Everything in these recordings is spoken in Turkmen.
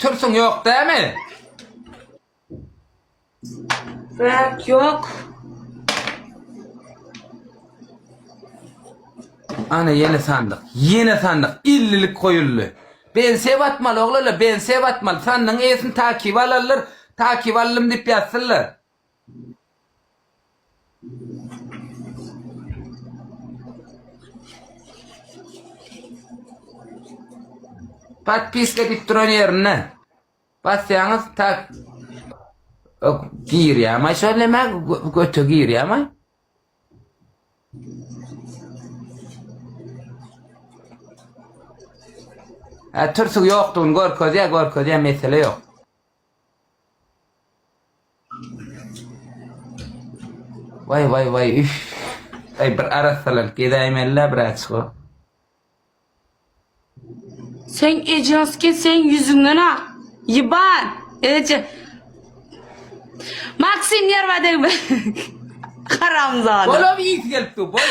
Türsüň ýok dämi? Bäh ýok. Ana ýene sandyk. Ýene sandyk. Illilik goýuldy. Bensiýa batmaly oglanlar, bensiýa batmaly. Sandygyň eýesini takyp alarlar. Takyp aldym diýip ýazsynlar. Podpiska edip duran yerine basýaňyz tak girýärmi şol näme göte girýärmi? Ha türsüg ýokdugyny görkezýär, görkezýär mesele ýok. Waý waý waý üf. Aý bir arassalanyp gezäýmelilä biraçyk o. Sen ejaske sen ýüzüňden ak. Ýyban. Eje. Maksim ýerbadeg. Haramzada. Bolam iýsi gelip dur boý.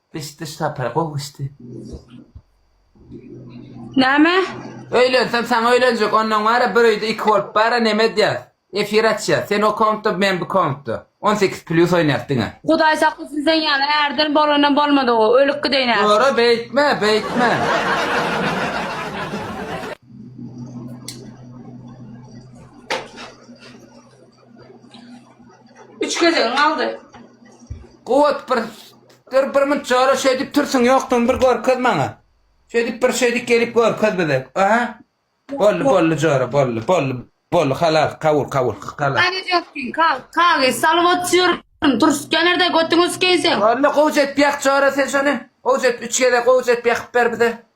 Eşitdiriş sapary gowy geçdi. Näme? Öýlensem saňa öýlenjek ondan wara bir öýde iki bolup bara neme edýäs efir açýas sen o kompda men bu kompda on sekiz plyus oýnýas diňe. Hudaý saklasyn sen ýaly ärden bolanam bolmady o ölüp gideýin häzir. Dogry beýtme beýtme. Üç gezegiň galdy. Kuwwat bir Dur bir mnt jora şeýdip tursuň ýokdugyňy bir görkez maňa. Şeýdip bir şeýdip gelip görkez bize. Aha. Boldy boldy jora boldy boldy boldy halas kabul kabul halas. Hadi Jökkin kal kagy salyp otyryň turs kenarda götüňi sikeýseň. Boldy gowjy et ýak jora sen şony. Gowjy et üç gezek gowjy et ýakyp ber bize.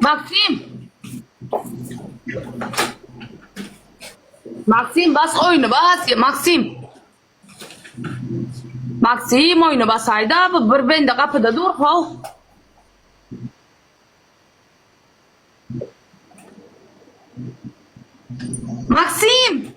Maksim! Maksim bas oyunu bas ya Maksim. Maksim oyunu basaydı abi bir bende kapıda dur hov. Maksim!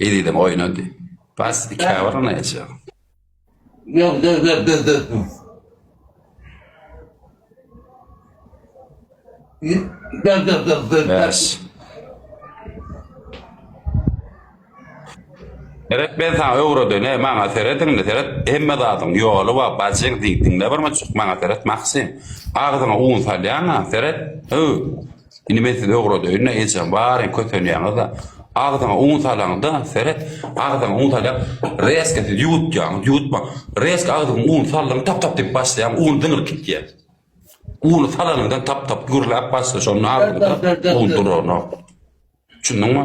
Ezizem oýnady. Bas ikä bir ony eje. Ýok dur dur dur dur dur. Dur dur dur dur. Bäş. Seret ben sana öwreden, he, maňa seret indi, seret. Hemme zadyň ýoly bar, bajyň diýdiňde bir maçuk maňa seret Maksim. Agzyňa un salýaň-a, seret. Hü. Indi men sizi öwredeýin-de, ejeň baryny kösenýäňiz-de, agzyňa un salaňyz-da, seret, agzyňa un salýaň, rezko siz ýuwutýaňyz, ýuwutmaň, rezko agzyňa un saldyňyz, tap-tap diýip başlaýaň, un zyňylyp gitýär. Uny salanyňdan tap-tap gürläp başlar, şonda agzyňyzda un duranok. Düşündiňmi?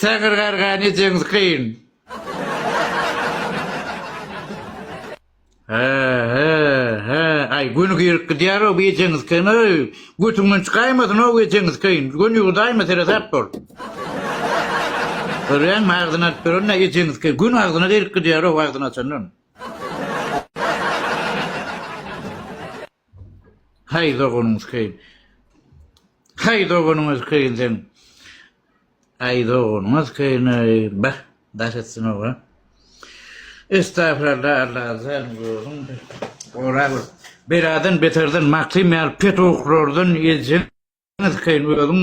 Taňry garga nejeňiz kyn? Hä, hä, hä, aý göni girip gidýär-ow bu ejeňiz kyn, öý, götüňden çykaýmasyn-ow ejeňiz kyn, göni ýuwudaýma seresap bol. Görýäňmi, agzyny açyp duran-da ejeňiz kyn, göni agzyna girip gidýär-ow agzyny açandan. Haý doganyňyz keýin. Haý doganyňyz keýin seň. Aý doganyňyz keýin aý. Bah, daş etsin-ow a. Estagfiralla Alla azan gözüň gorap ol. Beladan beterden makym ýaly pet okurlardan edjeňiz keýin özüň.